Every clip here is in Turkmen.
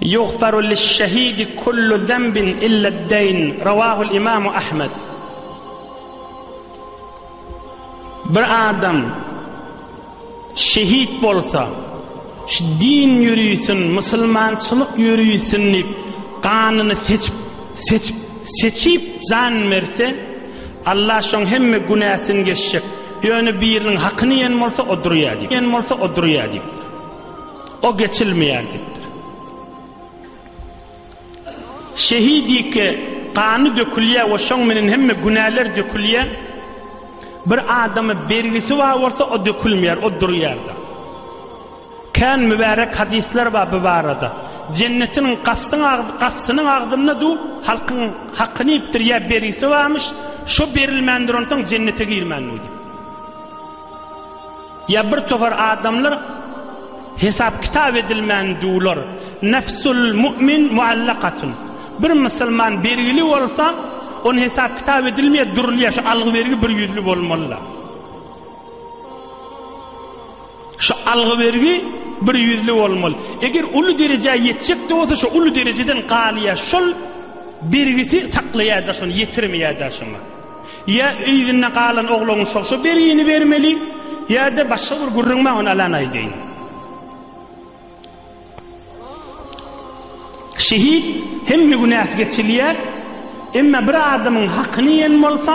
Ýugfaru liş-şehidi kullu zenbin ille'd-deýn, Rawahul Imamu Ahmed. Bir adam şehit bolsa, şu din ýörisin, musulmançylyk ýörisin diýip, ganyny seçip, seçip, seçip jan berse, Allah şoň hemme günäsini geçjek. Ýöne biriniň hakyny ýen bolsa, o durýar diýip. Ýen bolsa, o durýar diýipdir. O geçilmeýär diýipdir. Şehit ýeke gany dökülýär we şoň menen hemme günäler dökülýär. Bir adamy bergisi bar bolsa o dökülmeýär, o durýarda. Kän mübärek hadisler bar bu barada. Jennetiň gapsynyň agzynda du halkyň hakyny ýipdir ýa bergisi barmyş, şo berilmändir onsoň jennete girmändir. Ýa bir topar adamlar hesap-kitap edilmän duwlar. Nefsul mu'min mu'allakatun. Bir musulman bergili bolsa, ony hesap-kitap edilmeýär, durulýar. Şu algy-bergi bir ýüzli bolmalydyr. Şu algy-bergi bir ýüzli bolmaly. Eger uly derejä ýetjekde bolsa, şu uly derejeden galýar. Şol bergisi saklaýar-da şony, ýetirmeýär-de şoňa. Ýa yzynda galan ogluň şo-şo bergini bermeli, ýa-da başga bir gürrüň maňa alan aýdaýyn. Şehit hemme günäsi geçilýär, emma bir adamyň hakyny ýen bolsa,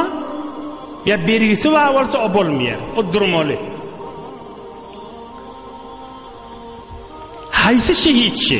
ýa bergisi bar bolsa o bolmaýar, o durmaly. Haýsy şehit şi?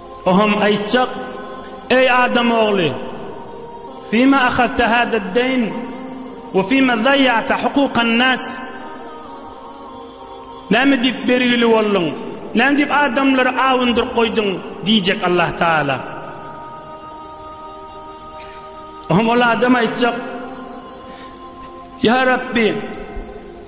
O hem aýtjak, Eý adam ogly! Fima ahadta hada-d-dayn we fima zaýýata hukukan-nas? Näme diýip bergili bolduň? Näme diýip adamlary awundyryp goýduň? diýjek Allah Taala. O hem ol adam aýtjak, Ýa Rabbi!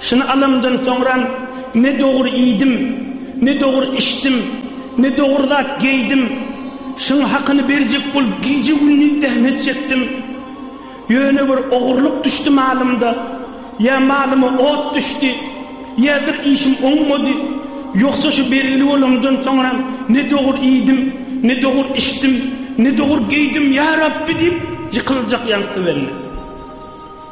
Şuny alamdan soňram, ne dogry iýdim, ne dogry içdim, ne dogry zat geýdim. Şuň hakyny berjek bolup gije-gündiz zähmet çekdim. Ýöne bir ogurlyk düşdi malymda. Ýa malyma ot düşdi, ýadyr işim oňmady. Ýogsa şu belgili bolamdan soňram, ne dogry iýdim, ne dogry içdim, ne dogry geýdim, ýa Rabbi diýip ýykyljak ýaňky bende.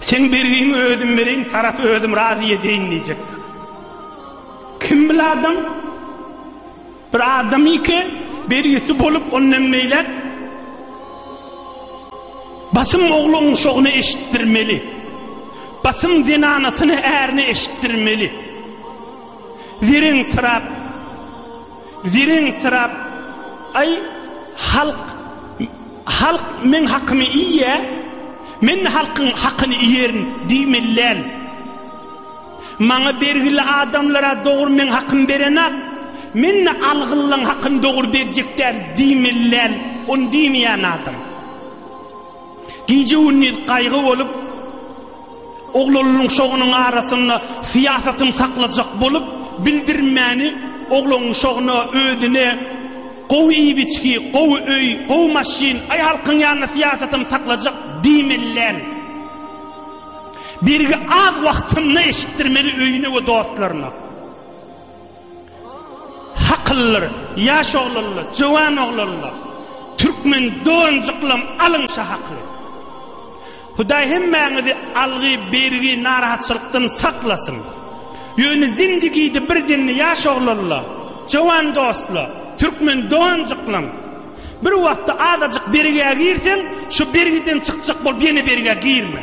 Seň bergiňi özüm bereýin, tarapy özüm razy edeýin diýjekler. Kim bil adam? Bir adam ýeke bergisi bolup, ondan beýläk basym ogluň şogyny eşitdirmeli. Basym zenanasyny ärini eşitdirmeli. Zeriň syrap, Wireňsirap, Aý, halk, halk meň hakymy iýýä, men-de halkyň hakyny iýerin diýmelidäl. Maňa bergili adamlar-a dogry meň hakymy berenok, men-de algylylaň hakyny dogry berjekdäl diýmelidäl, ony diýmeýän adam. Gije-gündiz gaýgy bolup, oglanlyň şogunyň arasynda syýasatyny saklajak bolup, bildirmäni oglanlyň şoguna, özüne gowy iýip-içgi, gowy öý, gowy maşyn, aý halkyň ýanynda syýasatyny saklajak diýmelän birgi az wagtynda eşitdirmeli öýüne we dostlaryna. Hakyllar, ýaş oglanlar, jöwan oglanlar, türkmen doganjyklam alyň şa hakyny. Hudaý hemmäňizi algy, bergi, narahatçylykdan saklasyn. Ýöne zindigide bir demde ýaş oglanlar, jöwan dostlar, türkmen doganjyklam, bir wagtda azajyk bergä girseň, şu bergiden çykjak bolup ýene bergä girme.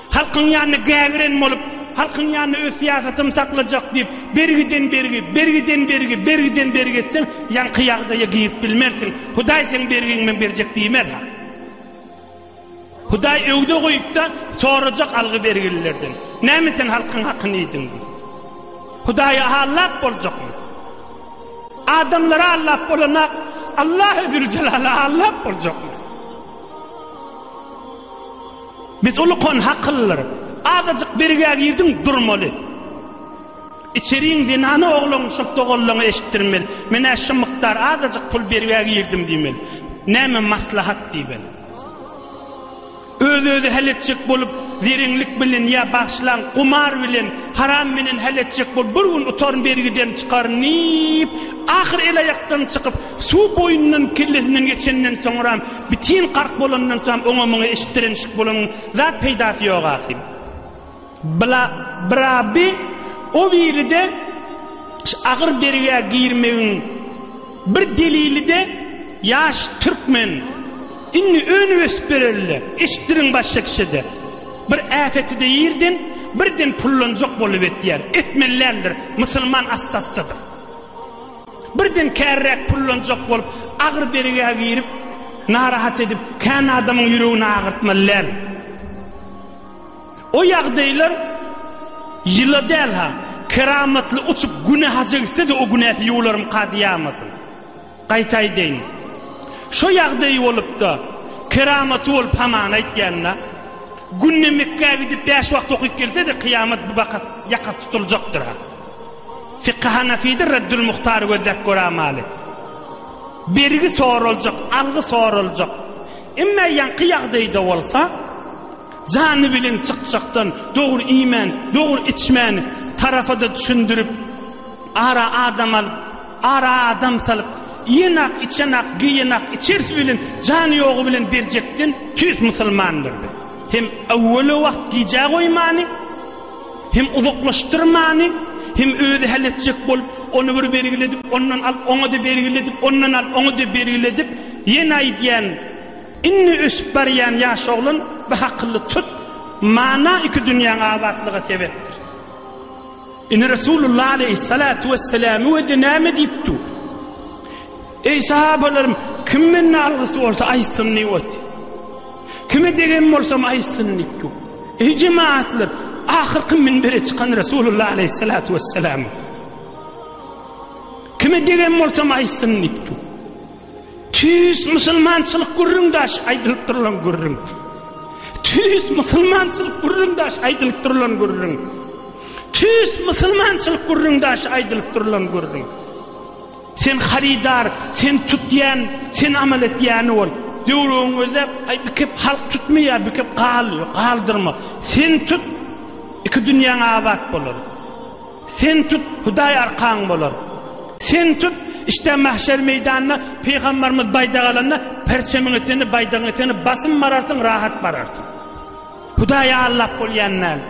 Halkyň ýanyna gägiren bolup, halkyň ýanyna öz syýasatym saklajak diýip, bergiden bergi, bergiden bergi, bergiden bergi etseň, ýaňky ýagdaýa girip bilmersiň. Hudaý seň bergiňi men berjek diýmer-ha. Hudaý öwde goýup-da, sorajak algy bergililerden, Näme sen halkyň hakyny iýdiň? diýip. Hudaýa allap boljakmy? Adamlara allap bolanak, Allahy Züljelala allap boljakmy? Biz ulkan hakyllar. Azajyk birgä girdiň durmaly. Içeriň zenany oglan şul doganlaňa eşitdirmeli. Menä şu mukdar azajyk pul birgä girdim diýmeli. Näme maslahat diýmeli. Öz özi hal etjek bolup zerenlik bilen ýa bagşlaň gumar bilen haram bilen hal etjek bolup bir gün utaryn birgiden çykaryn diýip ahyr el aýakdan çykyp Suw boýundan kellesinden geçenden soňram, bitin gark bolandan soňam oňa-muňa eşitdirenişik bolanyň zat peýdasy ýok ahym. Bla, bra bi, o biri-de ş agyr bergä girmegiň bir delili-de ýaş türkmen indi önüp-ösüp bereli-le, eşitdiriň başga kişide. Bir äpeti-de ýerden birden pullanjak bolup etýär, etmeli däldir, musulman assassydyr. Birden käriräk pullanjak bolup, agyr bergä girip, narahat edip, kän adamyň ýüregini agyrtmaly däl. O ýagdaýlar ýyla däl-ha, keramatly uçup güne haja gitse-de o günäsi ýuwularym kady ýamasyn. Gaýta aýdaýyn. Şo ýagdaýy bolup-da, keramaty bolup hamana aýtýan-da, günde Mekgä gidip bäş wagt okyp gelse-de kyýamat bu bakat ýakasy tutuljakdyr-ha. Fiky Hanafide Reddül Muhtar gözläp göramaly. Bergi soraljak, algy soraljak. Emme ýaňky ýagdaýda bolsa, jany bilen çykjakdan, dogry iýmän, dogry içmän, tarafada düşündirip, ara adam alyp, ara adam salyp, iýenak, içenak, geýenak, içersi bilen, jany ýogy bilen berjekden tüýs musulmandyrdy. Hem öwweli wagt gijä goýmany, Hem uzaklaşdyrmany, hem özi hal etjek bolup, ony bir bergiledip, ondan alyp, oňa-da bergiledip, ondan alyp, oňa-da bergiledip, ýene aýdýan, Indi ösüp barýan ýaş oglan, bir hakylly tut, mana iki dünýäň abatlyga sebepdir. Indi Resulullah aleýhissalatu wessalamy we näme diýip dur? Eý sahabalarym, kim menden algysy bolsa aýtsyn diýip otyr. Kime degen bolsam aýtsyn nitku. Eý jemaatlar, ahyrky minbere çykan Resulullah aleýhissalatu wesselam. Kime degen bolsam aýtsyn nitku. Tüýs musulmançylyk gürrüň daş aýdylyp durulan gürrüň. Tüýs musulmançylyk gürrüň daş aýdylyp durulan gürrüň. Tüýs musulmançylyk gürrüň daş aýdylyp durulan gürrüň. Sen harydar, sen tut diýen, sen amal et diýeni bol. Döwrügiňi gözläp, aý bir kep halk tutmaýar, bir kep gal, ýok, galdyrma. Sen tut, iki dünýäň abat bolar. Sen tut, Hudaý arkaň bolar. Sen tut, işte mahşer meýdanyna pygambarymyz baýdak alanda, perçemiň etegini, baýdagyň etegini basym bararsyň, rahat bararsyň. Hudaýy aldap bolýan däldir.